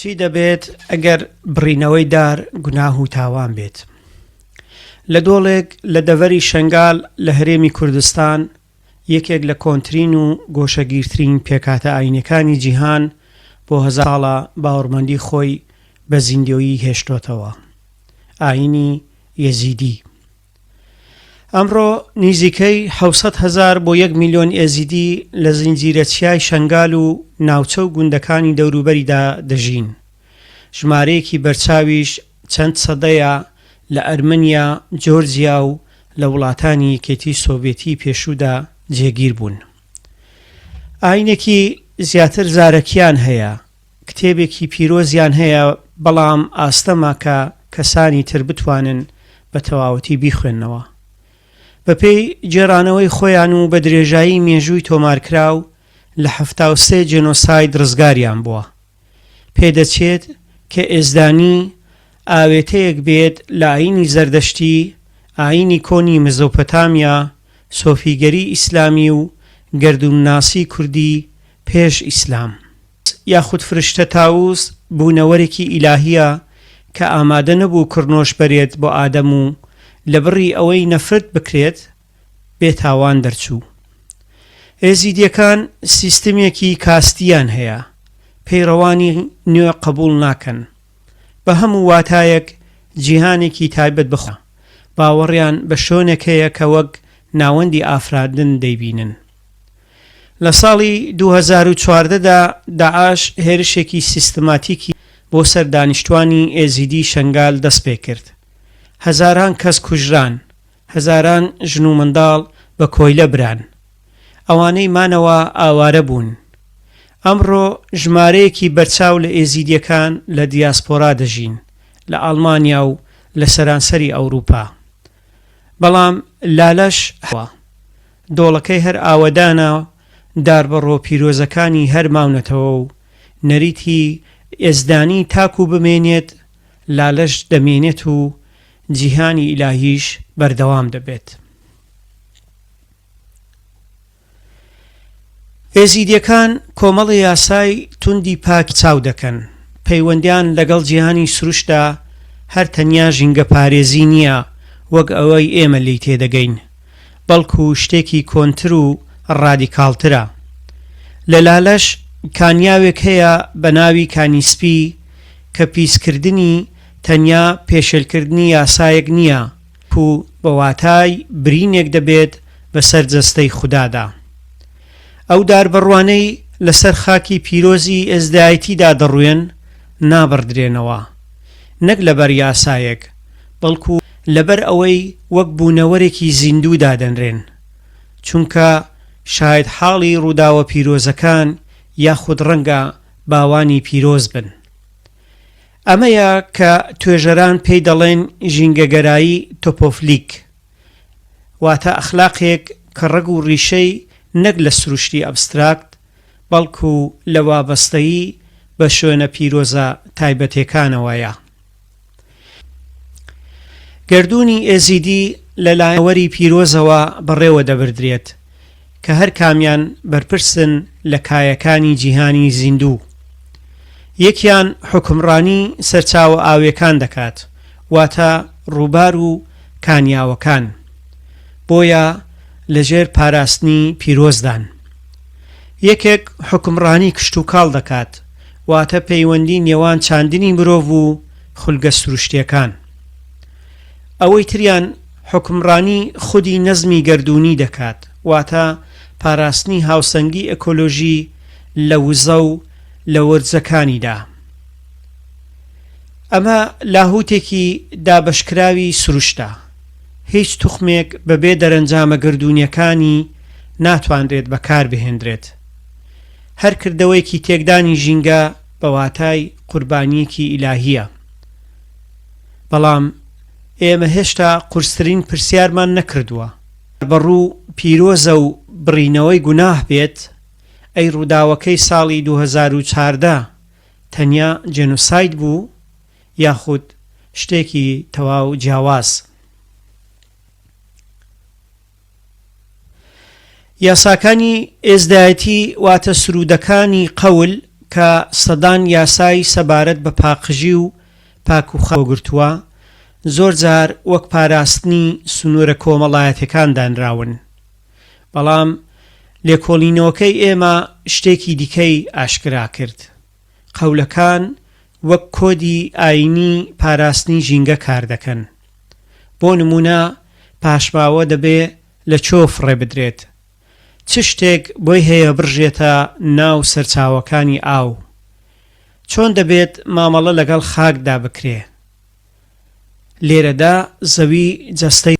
چی دەبێت ئەگەر بڕینەوەی دار گوناه و تاوان بێت؟ لە دۆڵێک لە دەڤەری شەنگال لە هەرێمی کوردستان، یەکێک لە کۆنترین و گۆشەگیرترین پێکهاتە ئایینیەکانی جیهان بۆ هەزار ساڵە باوەڕمەندی خۆی بە زیندۆیی هێشتۆتەوە، ئایینی یەزیدی. ئەمڕۆ نیزیکەی حەوت سەد هەزار بۆ یەک میلیۆن ئێزیدی لە زنجیرە چیای شەنگال و ناوچە و گوندەکانی دەوروبەریدا دەژین، ژمارەیەکی بەرچاویش چەند سەدەیە لە ئەرمەنیا، جۆرجیا و لە وڵاتانی یەکێتی سۆڤێتی پێشوودا جێگیر بوون. ئایینێکی زیاتر زارەکییان هەیە، کتێبێکی پیرۆزیان هەیە، بەڵام ئاستەمە کە کەسانی تر بتوانن بە تەواوەتی بیخوێننەوە. بەپێی گێڕانەوەی خۆیان و بە درێژایی مێژووی تۆمارکراو، لە حەفتا و سێ جێنۆساید ڕزگاریان بووە. پێدەچێت کە ئێزدانی ئاوێتەیەک بێت لە ئایینی زەردەشتی، ئایینی کۆنی مزۆپۆتامیا، سۆفیگەری ئیسلامی و گەردوونناسی کوردی پێش ئیسلام، یاخود فرشتە تاوس بوونەوەرێکی ئیلاهییە کە ئامادە نەبوو کڕنۆش بەرێت بۆ ئادەم و لە بڕی ئەوەی نەفرەت بکرێت بێ تاوان دەرچوو. ئێزیدیەکان سیستمێکی کاستییان هەیە پەیڕەوانی نوێ قەبوڵ ناکەن بە هەموو واتایەک جیهانێکی تایبەت بە خۆیانە باوەڕیان بە شۆنێک هەیە کە وەک ناوەندی ئافرادن دەیبینن. لە ساڵی دوو هەزار و چواردە دا داعش هێرشێکی سیستماتیکی بۆ سەر دانیشتوانی ئێزیدی شەنگال دەست پێ کرد. هەزاران کەس کوژران، هەزاران ژن و منداڵ بە کۆیلە بران. ئەوانەی مانەوە ئاوارە بوون. ئەمڕۆ ژمارەیەکی بەرچاو لە ئێزیدییەکان لە دیاسپۆرا دەژین، لە ئاڵمانیا و لە سەرانسەری ئەوروپا. بەڵام لالەش هەوا دۆڵەکەی هەر ئاوەدانە، داربەڕۆ پیرۆزەکانی هەر ماونەتەوە و نەریتی یەزدانی تاکوو بمێنێت، لالەش دەمێنێت و جیهانی ئیلاهیش بەردەوام دەبێت. ئێزیدیەکان کۆمەڵە یاسای توندی پاک چاو دەکەن، پەیوەندیان لەگەڵ جیهانی سروشتدا هەر تەنیا ژینگە پارێزی نییە وەک ئەوەی ئێمە لێی تێدەگەین، بەڵکو شتێکی کۆنتر و ڕادیکاڵترە. لە لالش کانیاوێک هەیە بە ناوی کانی سپی کە پیسکردنی تەنیا پێشێلکردنی یاسایەک نییە، پو بە واتای برینێک دەبێت بە سەر جەستەی خودادا. ئەو داربەڕوانەی لە سەر خاکی پیرۆزی ئێزدایەتیدا دەڕوێن نابڕدرێنەوە، نەک لە بەر یاسایەک، بەڵکو لە بەر ئەوەی وەک بوونەوەرێکی زیندوو دادەنرێن، چونکە شاهێدحاڵی ڕووداوە پیرۆزەکان یاخود ڕەنگە باوانی پیرۆز بن. ئەمەیە کە توێژەران پێی دەڵێن ژینگەگەرایی تۆپۆفلیک، واتە ئەخلاقێک کە ڕەگ و ڕیشەی نەک لە سروشتی ئەبستراکت، بەڵکو لە وابەستەیی بە شوێنە پیرۆزە تایبەتێکانەوەیە. گەردوونی ئێزیدی لەلایەن یادەوەری پیرۆزەوە بەڕێوەدەبردرێت، کە هەر کامیان بەرپرسن لە کایەکانی جیهانی زیندوو. یەکیان حوکمڕانی سەرچاوە ئاویەکان دەکات، واتە ڕووبار و کانیاوەکان، بۆیە لە ژێر پاراستنی پیرۆزدان. یەکێک حوکمڕانی کشتوکاڵ دەکات، واتە پەیوەندی نێوان چاندنی مرۆڤ و خولگە سروشتیەکان. ئەوەی تریان حوکمڕانی خودی نەزمی گەردوونی دەکات، واتە پاراستنی هاوسەنگی ئەکۆلۆژی لە وزە و لە ورجەکانیدا. ئەمە لاهووتێکی دابەشکراوی سروشتە، هیچ توخمێک بەبێ دەرەنجامە گەردوونییەکانی ناتوانرێت بەکاربهێندرێت. هەر کردەوەیەکی تێکدانی ژینگە بە واتای قوربانییەکی ئیلاهییە. بەڵام ئێمە هێشتا قورسترین پرسیارمان نەکردووە. بەڕوو پیرۆزە و بڕینەوەی گوناه بێت، ئەی ڕووداوەکەی ساڵی دوو هەزار و چاردە تەنیا جێنۆساید بوو یاخود شتێکی تەواو جیاواز؟ یاساکانی ئێزدایەتی واتە سروودەکانی قەول کە سەدان یاسای سەبارەت بە پاقژی و پاکوخەو کۆگرتووە، زۆر جار وەک پاراستنی سنوورە کۆمەڵایەتیەکان دانراون. بەڵام لێکۆڵینەوەکەی ئێمە شتێکی دیکەی ئاشکرا کرد. قەولەکان وەک کۆدی ئایینی پاراستنی ژینگە کار دەکەن. بۆ نموونە پاشماوە دەبێ لە چۆ فڕێ بدرێت، چ شتێک بۆی هەیە بڕژێتە ناو سەرچاوەکانی ئاو، چۆن دەبێت مامەڵە لەگەڵ خاکدا بکرێ. لێرەدا زەوی جەستەی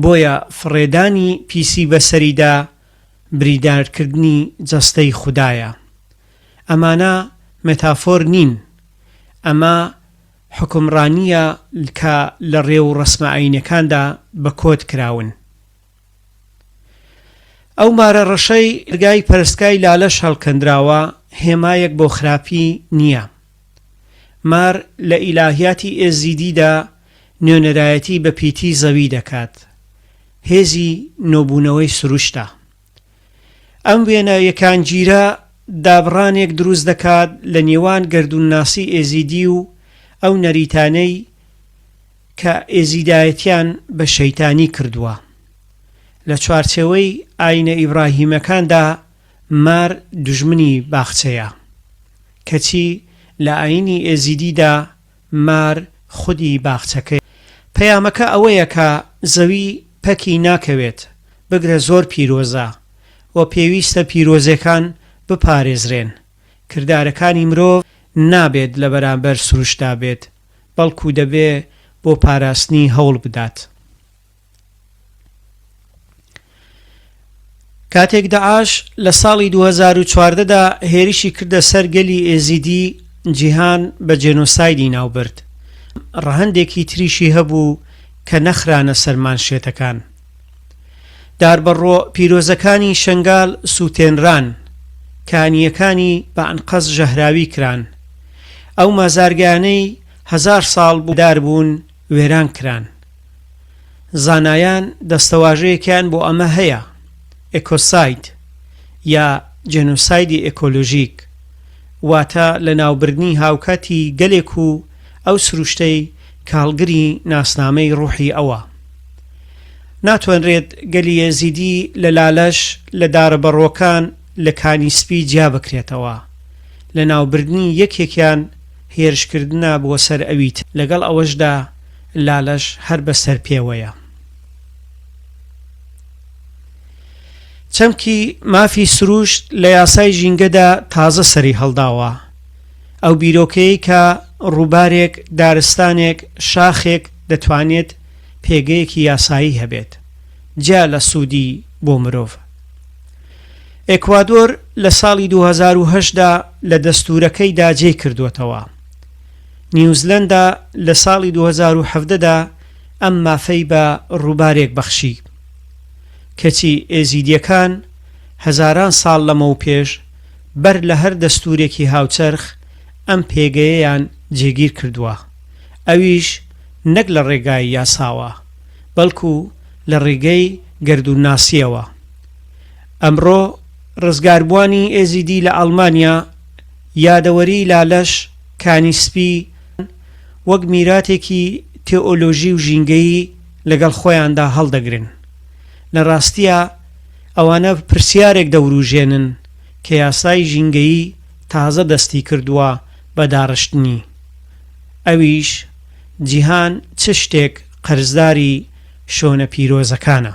بۆیە فڕێدانی پیسی بەسەریدا بریدارکردنی جەستەی خودایە. ئەمانە مێتافۆر نین، ئەمە حوکمڕانییە کە لە ڕێ و ڕەسمە ئایینیەکاندا بە کۆد کراون. ئەو مارە ڕەشەی دەرگای پەرستگای لالەش هەڵکەندراوە هێمایەک بۆ خراپی نییە. مار لە ئیلاهیاتی ئێزیدیدا نوێنەرایەتی بە پیتی زەوی دەکات، هێزی نۆبوونەوەی سروشتە. ئەم وێنە یەکانگیرە دابڕانێک دروست دەکات لە نێوان گەردوونناسی ئێزیدی و ئەو نەریتانەی کە ئێزیدایەتیان بە شەیتانی کردووە. لە چوارچێوەی ئایینە ئیبراهیمەکاندا مار دوژمنی باخچەیە. کەچی لە ئایینی ئێزیدیدا مار خودی باخچەکەیە. پەیامەکە ئەوەیە کە زەوی پەکی ناکەوێت، بگرە زۆر پیرۆزە و پێویستە پیرۆزێکان بپارێزرێن. کردارەکانی مرۆڤ نابێت لە بەرامبەر سروشتدا بێت، بەڵکو دەبێ بۆ پاراستنی هەوڵ بدات. کاتێک دەعاش لە ساڵی 2014 دا هێرشی کردە سەر گەلی ئێزیدی جیهان بە جێنۆسایدی ناوبرد ڕەهەندێکی تریشی هەبوو کە نەخرانە سەر مانشێتەکان داربەڕۆ پیرۆزەکانی شنگال سووتێنران کانیەکانی بە ئەنقەست ژەهراوی کران ئەو مازارگانەی هەزار ساڵ بوو داربوون وێران کران زانایان دەستەواژەیەکیان بۆ ئەمە هەیە، ئێکۆساید یا جێنۆسایدی ئێکۆلۆژیک، واتە لەناوبردنی هاوکاتی گەلێک و ئەو سروشتەی کە هەڵگری ناسنامەی ڕوحی ئەوە. ناتوانرێت گەلی ئێزیدی لە لالەش، لە دارە بەڕۆکان، لە کانی سپی جیا بکرێتەوە. لەناوبردنی یەکێکیان هێرشکردنە بۆ سەر ئەوی تر. لەگەڵ ئەوەشدا لالەش هەر بە سەر پێوەیە. چەمکی مافی سروشت لە یاسای ژینگەدا تازە سەری هەڵداوە. ئەو بیرۆکەیەی کە ڕووبارێک، دارستانێک، شاخێک دەتوانێت پێگەیەکی یاسایی هەبێت، جیا لە سوودی بۆ مرۆڤ. ئێکوادۆر لە ساڵی دوو هەزار و هەشت دا لە دەستوورەکەیدا جێی کردووەتەوە. نیوزلەندا لە ساڵی دوو هەزار و حەڤدە دا ئەم مافەی بە ڕووبارێک بەخشی. کەچی ئێزیدییەکان هەزاران ساڵ لەمەوپێش بەر لە هەر دەستوورێکی هاوچەرخ ئەم پێگەیەیان جێگیر کردووە، ئەویش نەک لە ڕێگای یاساوە، بەڵکو لە ڕیگەی گەردوونناسییەوە. ئەمڕۆ ڕزگاربووانی ئێزیدی لە ئەڵمانیا، یادەوەریی لالەش، کانی سپی، یان وەک میراتێکی تێئۆلۆژی و ژینگەیی لەگەڵ خۆیاندا هەڵدەگرن. لە ڕاستییا ئەوانە پرسیارێک دەورووژێنن کە یاسای ژینگەیی تازە دەستی کردووە بە داڕشتنی. ئەویش جیهان چ شتێک قەرزداری شۆنە پیرۆزەکانە؟